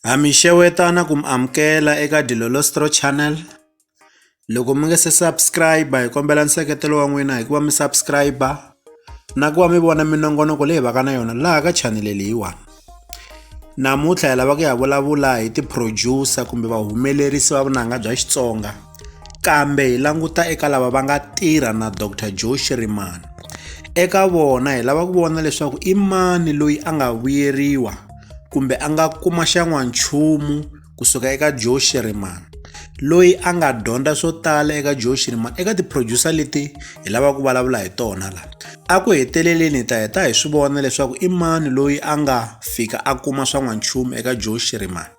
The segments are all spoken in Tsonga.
Ha mi xewetana ku mi amukela eka Dilolostro channel loko mi nga se subscribe hi kombela nseketelo wa n'wina hikuva mi subscribe na ku va mi vona minongonoko leyi vaka na yona laha ka chanele leyiwani namuntlha hi lava ku ya vulavula hi ti-producer kumbe vahumelerisi va vunanga bya Xitsonga Kambe hi languta eka lava va nga tirha na Doctor Joe Shirimani. Eka vona hi lava ku vona leswaku i mani loyi a nga vuyeriwa kumbe a nga kuma xan'wanchumu kusuka eka Joe Shirimani loyi a nga dyondza swo tala eka Joe Shirimani eka ti-producer leti hi lavaka ku vulavula hi tona la a ku heteleleni hi ta heta hi swi vona leswaku i mani loyi a nga fika a kuma swa n'wanchumu eka Joe Shirimani.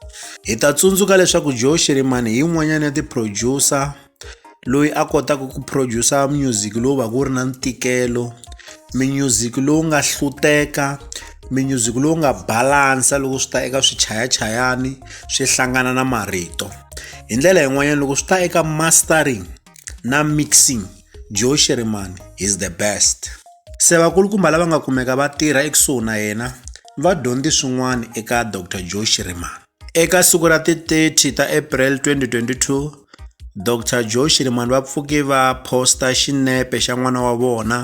Hi ta tsundzuka leswaku Joe Shirimani hi yin'wanyana ya ti-producer loyi a kotaka ku producer music lowu va ku ri na ntikelo minyuziki lowu nga hluteka minyuziki lowu nga balansa loko swi ta eka swichayachayani swi hlangana na marito hi ndlela yin'wanyana loko swi ta eka mastering na mixing joe sherman is the best se vakulukumba lava nga kumeka va tirha ekusuhi na yena va dyondze swin'wana eka dr joe sherman eka siku ra ti-30 ta april 2022 dr joe shirimani va pfuke va posta xinepe xa n'wana wa vona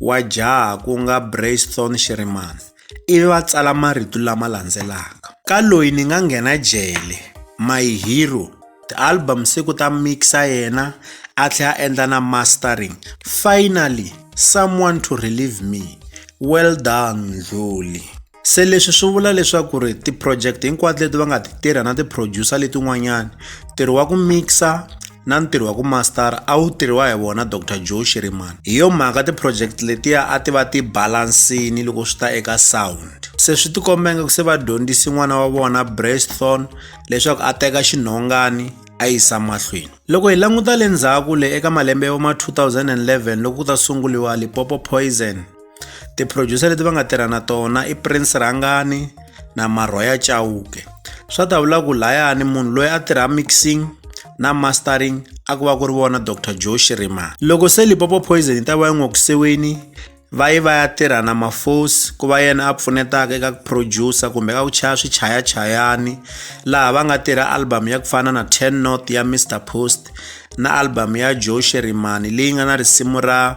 wa jaha ku nga braython shirimani ivi va tsala marito lama landzelaka ka loyi ni nga nghena jele my hero ti-album se ku ta mixa yena a tlhela a endla na mastering finally someone to relieve me well done ndluli se leswi swi vula leswaku ri ti-project hinkwato leti va nga ti tirha na ti-producer letin'wanyani ntirho wa ku mixa na ntirho wa ku mastara a wu tirhiwa hi vona dr joe shiriman hi yo mhaka tiproject letiya a ti va ti balansini loko swi ta eka sound se swi tikombenge ku se va dyondzisi n'wana wa vona brasthon leswaku a teka xinhongani a yisa mahlweni loko hi languta le ndzhaku le eka malembe ya voma 2011 loko ku ta sunguriwa lipopo poison tiphrojusa leti va nga tirha na tona i prince rhangani na marhoya chauke swa ta vula ku layani munhu loyi a tirha mixing na mastering a ku va ku ri vona dr joe shirima loko se lipopo poison yi ta va yi n'wi kusiwini va yi va ya tirha na mafosi ku va yena a pfunetaka eka ku producer kumbe ka ku chaya swichayachayani laha va nga tirha album ya ku fana na ten north ya mr post na album ya joe sherimani leyi nga na risimu ra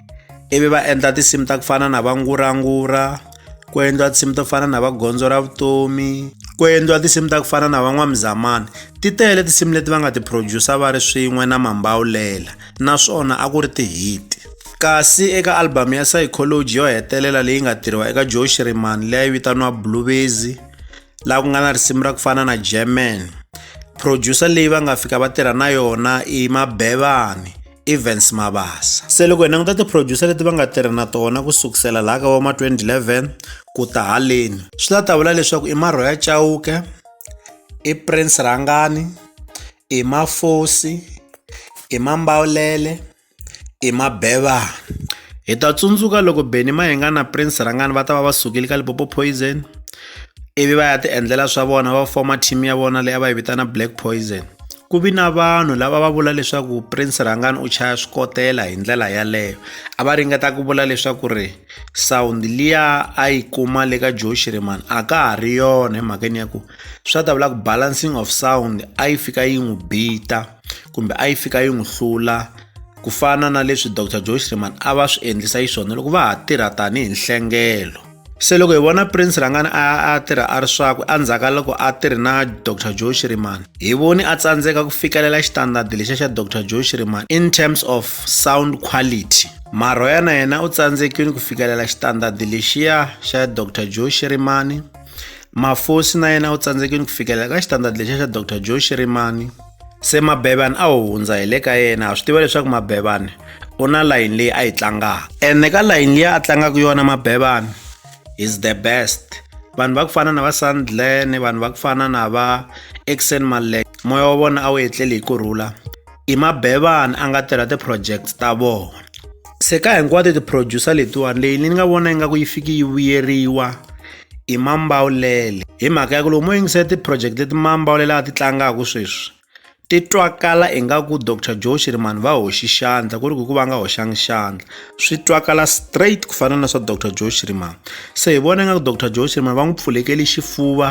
ivi va endla tinsimu ta ku fana na va ngurangura ku endliwa tinsimu to fana na va gondzo ra vutomi ku endliwa tinsimu ta ku fana na van'wamuzamani ti tele tinsimu leti va nga ti producer va ri swin'we na mambawulela naswona a ku ri tihiti kasi eka albhamu ya psychology yo hetelela leyi nga tirhiwa eka joe shirimani leyi vitaniwa bluebezi laha ku nga na risimu ra ku fana na german producer leyi va nga fika va tirha na yona i mabevani Evans Mabasa. Se loko hi languta ti-producer leti va nga tirha na tona ku sukusela laha ka voma 2011 ku ta haleni swi la ta vula leswaku i Marhoya Chauke i Prince Rhangani i Mafosi i Mambawulele i Mabevana hi ta tsundzuka loko Benny Mayenga na Prince Rhangani va ta va va sukile ka Lipopo Poison ivi va ya ti endlela swa vona va foma team ya vona leyi a va yi vitana Black Poison Ku vi na vanhu lava va vula leswaku Prince Rhangani u chaya swikotela hi ndlela yaleyo. A va ringeta ku vula leswaku ri sound liya a yi kuma le ka Joe Shirimani a ka ha ri yona hi mhakeni ya ku swa ta vula ku balancing of sound a yi fika yi n'wi bita kumbe a yi fika yi n'wi hlula ku fana na leswi Doctor Joe Shirimani a va swi endlisa xiswona loko va ha tirha tanihi nhlengelo. se loko hi vona prince rhangani a a tirha a ri swakwe endzhaku ka loko a tirhi na dr joe shirimani hi voni a tsandzeka ku fikelela xitandadi lexa xa dr joe shirimani in terms of sound quality marhoya na yena u tsandzekile ku fikelela xitandadi lexiya xa dr joe shirimani mafosi na yena u tsandzekile ku fikelela ka xitandadi lexiya xa dr joe shirimani se mabevani a wu hundza hi le ka yena ha swi tiva leswaku mabevani u na layini leyi a yi tlangaka ene ka layini leyi a tlangaka yona mabevani is the best vanhu va ku fana na va sandlen vanhu va ku fana na va exen malek moya wa vona a wu etleli hi ku rhula i mabevani a nga tirha ti-project ta vona se ka hinkwato ti-producer letiwani leyi ni nga vona ingaku yi fiki yi vuyeriwa i Mambawulele hi mhaka ya ku loko mo yingisa ti-project leti Mambawulele a ti tlangaka sweswi ti twakala ingaku Doctor Joe Shirimani va hoxi xandla ku ri ku hi ku va nga hoxanga xandla swi twakala straight ku fana na swa Doctor Joe Shirimani se hi vona ingaku Doctor Joe Shirimani va n'wi pfulekele xifuva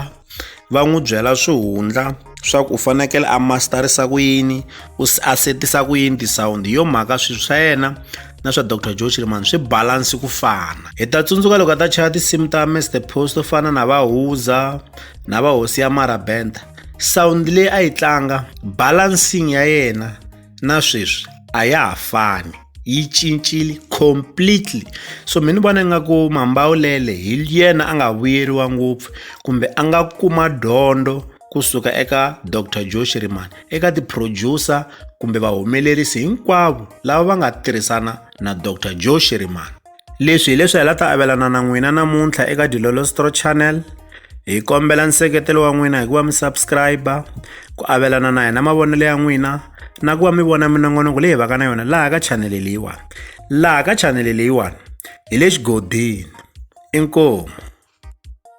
va n'wi byela swihundla. swa ku u fanekele a masterisa ku yini u a setisa ku yini ti-sound hi yo mhaka swilo swa yena na swa dr joe chilimani swi balansi ku fana hi ta tsundzuka loko a ta chaya tinsimu ta mr post to fana na vahuza na vahosi ya marabenta sound leyi a yi tlanga balancing ya yena na sweswi a ya ha fani yi cincile completely so mi ni vona ingaku mambawulele hi yena a nga vuyeriwa ngopfu kumbe a nga kuma dyondzo kusuka eka dr joe shirimani eka ti-producer kumbe vahumelerisi hinkwavo lava va nga tirhisana na dr joe shirimani Leswi hi leswi hi la ta avelana na n'wina namuntlha eka Dilolostro Channel. Hi kombela nseketelo wa n'wina hi ku va mi subscribe-a, ku avelana na hina mavonelo ya n'wina, na ku va mi vona minongonoko leyi hi vaka na yona laha ka chanele leyiwani. Laha ka chanele leyiwani hi le xigodini. Inkomu.